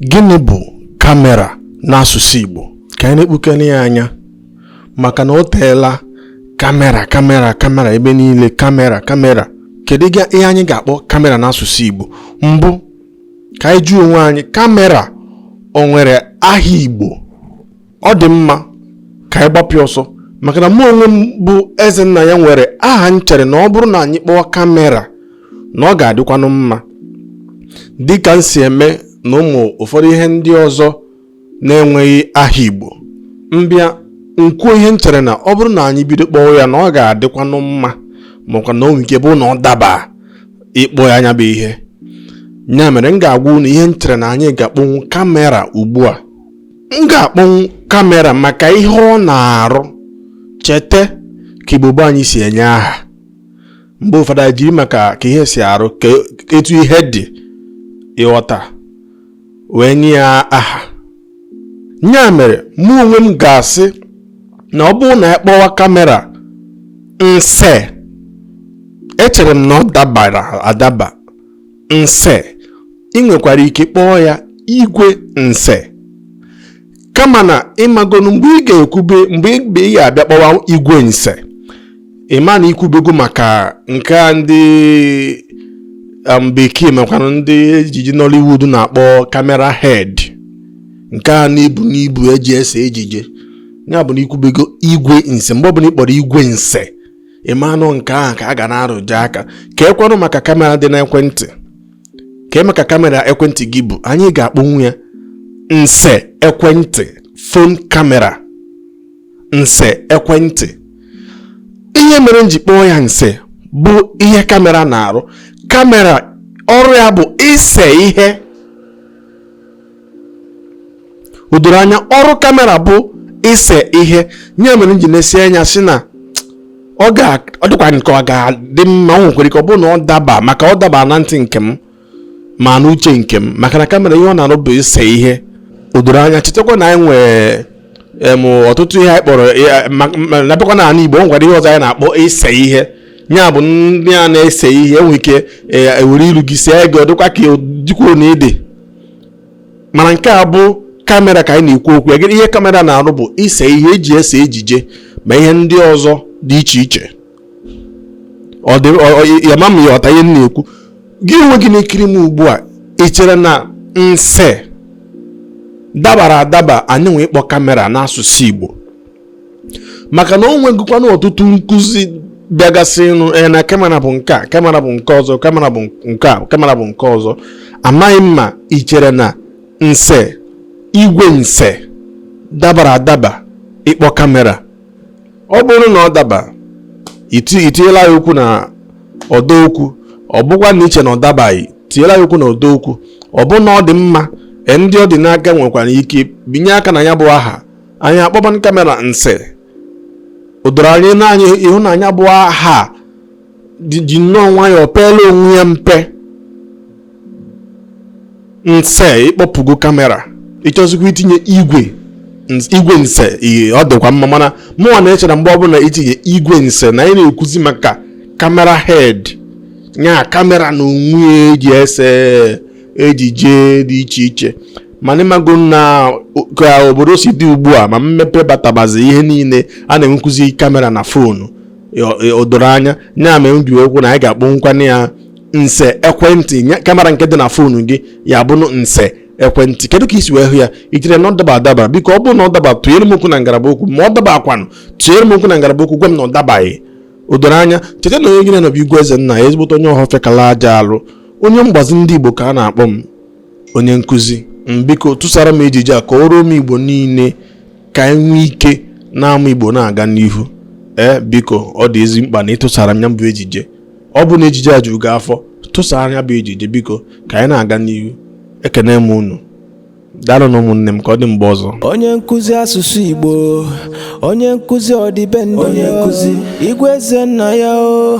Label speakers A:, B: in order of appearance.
A: Gịnị bụ kamera n'asụsụ Igbo? Ka anyị nekpukene ya anya maka na o teela kamera kamera kamera ebe niile kamera kamera kedu ihe anyị ga-akpọ kamera n'asụsụ Igbo mbụ ka anyị jụọ onwe anyị kamera o nwere aha Igbo ọ dị mma ka anyị gbapịa ọsọ maka na mụ onwe m bụ Ezennaya nwere aha m chere na ọ bụrụ na anyị kpọọ kamera na ọ ga-adịkwanụ mma dị ka m si eme na ụmụ ụfọdụ ihe ndị ọzọ na-enweghị aha Igbo m bịa m kwuo ihe m chere na ọ bụrụ na anyị bido kpọọ ya na ọ ga-adịkwanụ mma makwa na o nwere ike bụ na ọ daba ịkpọ ya nya bụ ihe ya mere m ga-agwa unu ihe m chere na anyị ga-akpọnwu kamera ugbu a m ga-akpọnwụ kamera maka ihe ọ na-arụ cheta ka Igbo gboo anyị si enye aha mgbe ụfọdụ anyị jiri maka ka ihe si arụ ka etu ihe dị ị ghọta wee nye ya aha ya mere mụ onwe m ga-asị na ọ bụrụ na a kpọwa kamera nse echere m na ọ dabara adaba nse ị nwekwara ike kpọọ ya igwe nse kama na ị magonu mgbe ị ga-ekwube mgbe ị ga-abịa kpọwa igwe nse ị ma na i kwubego maka nke a ndị um, bekee makwanụ ndị ejije Nollywood na-akpọ camera head nke a na-ebu n'ibu eji ese ejije ya bụ na i kwubego igwe nse mgbe ọbụla ị kpọrọ igwe nse ị ma na ọ nke ahụ ka a ga na-arụje aka kee kwanụ maka kamera dị n'ekwentị kee maka kamera ekwentị gị bụ anyị ga-akpọnwu ya nse ekwentị phone camera nse ekwentị ihe mere m ji kpọọ ya nse bụ ihe kamera na-arụ kamera ọrụ ya bụ ise ihe o doro anya ọrụ kamera bụ ise ihe ya mere m ji na-esi anya sị na ọ ga ọ dịkwa nke ọ ga-adị mma o nwekwara ike ọ bụrụ na ọ daba maka ọ daba na ntị nke m ma na uche nke m maka na kamera ihe ọ na-arụ bụ ise ihe o doro anya chetakwa na anyị nwee em ọtụtụ ihe anyị kpọrọ ya- ma- ma- na bịakwa n'ala Igbo o nwekwara ihe ọzọ anyị na-akpọ ise ihe ya bụ ndị a na-ese ihe e nwere ike e- e were ilu gị see gị ọ dịkwa ka ọ dịkwuo na ịdị mana nke a bụ kamera ka anyị na-ekwu okwu ya ihe kamera na-arụ bụ ise ihe eji ese ejije ma ihe ndị ọzọ dị iche iche ya ama m ị ya-aghọta ihe m na-ekwu gị onwe gị na-ekiri m ugbu a ị chere na nse dabara adaba anyị nwee ịkpọ kamera n'asụsụ Igbo maka na o nwegịkwana ọtụtụ nkụzi bịagasị ịnụ ee na kamera bụ nke a kamera bụ nke ọzọ kamera bụ nke a kamera bụ nke ọzọ amaghị m ma i chere na nse igwe nse dabara adaba ịkpọ kamera ọ bụrụ na ọ daba i tinyela ya okwu na ọdọ okwu ọ bụkwa na i che na ọ dabaghị tinyela ya okwu na ọdọ okwu ọ bụ na ọ dị mma ndị ọ dị n'aka nwekwara ike binye aka na ya bụ aha anyị akpọban kamera nse o doro anya na anyị hụ na nya bụ aha ji nnọọ nwayọọ peela onwe ya mpe nse ị kpọpụgo kamera ị chọzikwa itinye igwe nse ọ dịkwa mma mana mụnwa na-eche na mgbe ọbụla i tinye igwe nse na anyị na-ekwuzi maka kamera head nya kamera na onwe ya e ji ese ejije dị iche iche mana ị mago na ka obodo si dị ugbu a ma mmepe batabazi ihe niile a na-enwekwuzi kamera na fonu o doro anya nya mere m ji wee kwu na anyị ga-akpọnwukwana ya nse ekwentị nya- kamera nke dị na fonu gị ya bụrụ nse ekwentị kedu ka i si wee hụ ya i chere na ọ daba adaba biko ọ bụrụ na ọ daba tụnyere m okwu na ngalaba okwu ma ọ dabaakwanụ tụnyere m okwu na ngalaba okwu gwa m na ọ dabaghị o doro anya cheta na onye gị na ya nọ bụ igwe ezennaya ezigbote onye ọhọfịa kala aja alụ onye mgbazi ndị igbo ka a na-akpọ m onye nkụzi biko tụsara m ejije a ka o ruo ụmụ igbo niile ka anyị nwee ike na-amụ igbo na-aga n'ihu ee biko ọ dị ezi mkpa na ị tụsara m ya bụ ejije ọ bụ na ejije a juru gị afọ tụsara ya bụ ejije biko ka anyị na-aga n'ihu ekene m unu daalụnụ ụmụnne m ka ọ dị mgbe ọzọ onye nkụzi asụsụ
B: igbo onye nkụzi ọdịbendị onye nkụzi igwe ezennaya o